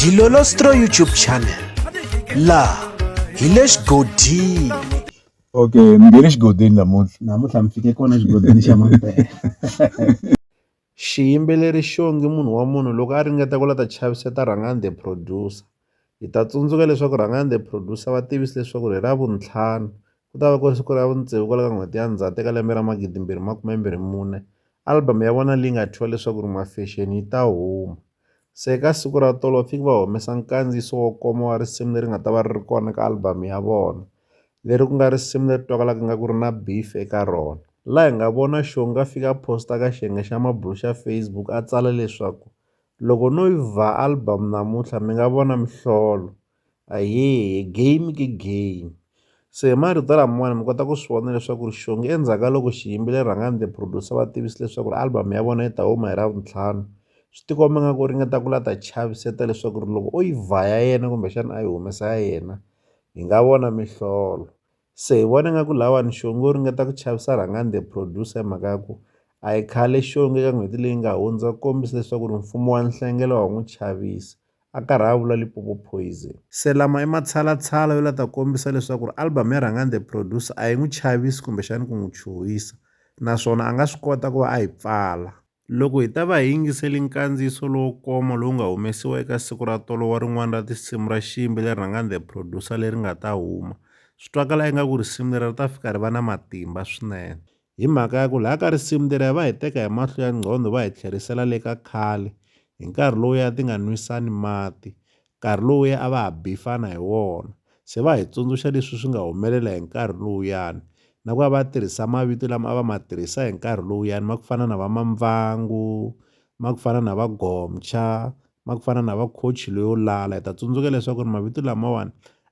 Dilolostro YouTube channel laha hi le xigodini okay mi nge le xigodini namuntlha namuntlha mi fike kona xigodini xa mampela xiyimbeleri xongi munhu wa munhu loko a ringeta ku la ta chaviseta rhangani the producer hi ta tsundzuka leswaku rhangani the producer va tivise leswaku hi ra vuntlhanu Ku ta va ku ri siku ra vutsevu kwala ka n'hweti ya Ndzhati eka lembe ra 2024, album ya vona leyi nga thyiwa leswaku ri Mafexeni yi ta huma. Se eka siku ra tolo va fike va humesa nkandziyiso wo koma wa risimu leri nga ta va ri ri kona eka album ya vona, leri ku nga risimu leri twakalaka ingaku ri na beef eka rona. La hi nga vona Shonga a fika a posta ka xiyenge xa mabulo xa Facebook a tsala leswaku, Loko no yi vha album namuntlha mi nga vona mihlolo. Ahee, game i game se hi marito lamawani mi kota ku swi vona leswaku ri xonge endzhaku ka loko xiyimbile rhangani the producer va tivisa leswaku ri album ya vona yi ta huma hi ravuntlhanu swi ti komba nga ku ringeta ku la ta chaviseta leswaku ri loko o yi vha ya yena kumbexana a yi humesa ya yena hi nga vona mihlolo se hi vona nga ku lawani xonge u ringeta ku chavisa rhangani the producer hi mhaka ya ku a yi khale xonge ka n'hweti leyi nga hundza ku kombisa leswaku ri mfumo wa nhlengelo wa n'wi chavisa a karhi a vula Limpopo Poison. Se lama i matshalatshala yo lata kombisa leswaku album ya Rhangani the Producer a yi n'wi chavisi kumbexana ku n'wi chuhisa naswona a nga swi kota ku va a yi pfala. Loko hi ta va hi yingisele nkandziyiso lowo koma lowu nga humesiwa eka siku ra tolo wa rin'wana ra tinsimu ra xiyimbi leri Rhangani the Producer leri nga ta huma, swi twakala ingaku risimu leri ri ta fika ri va na matimba swinene. Hi mhaka ya ku laha ka risimu leriya va hi teka hi mahlo ya nqhondo va hi tlherisela le ka khale hi nkarhi lowuya ti nga nwisani mati, nkarhi lowuya a va ha bifana hi wona. Se va hi tsundzuxa leswi swi nga humelela hi nkarhi lowuyani na ku va va tirhisa mavito lama a va ma tirhisa hi nkarhi lowuyani ma ku fana na va Mamvhangu, ma ku fana na va Gomtsha, ma ku fana na va Khochi loyo lala. Hi ta tsundzuka leswaku ri mavito lamawani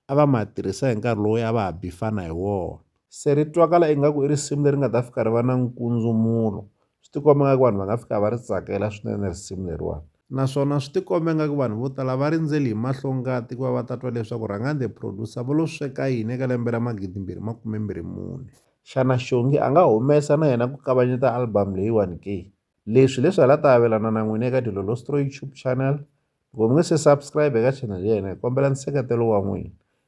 a va ma tirhisa hi nkarhi lowuya a va ha bifana hi wona. se ri twakala ingaku i risimu leri nga ta fika ri va na nkundzumulo swi tikomba nga ku vanhu va nga fika va ri tsakela swinene risimu leriwani naswona swi tikomba ingaku vanhu vo tala va rindzeli hi mahlongati ku va va ta twa leswaku Rhangani the Producer vo lo sweka yini eka lembe ra magidimbirhi makumembirhi mune. Xana Xongi a nga humesa na yena ku kavanyeta albhamu leyiwani ke? Leswi hi leswi hala ta avelana na n'wina eka Dilolostroy Tube Channel. Loko mi nge se subscribe eka channel ya hina hi kombela nseketelo wa n'wina.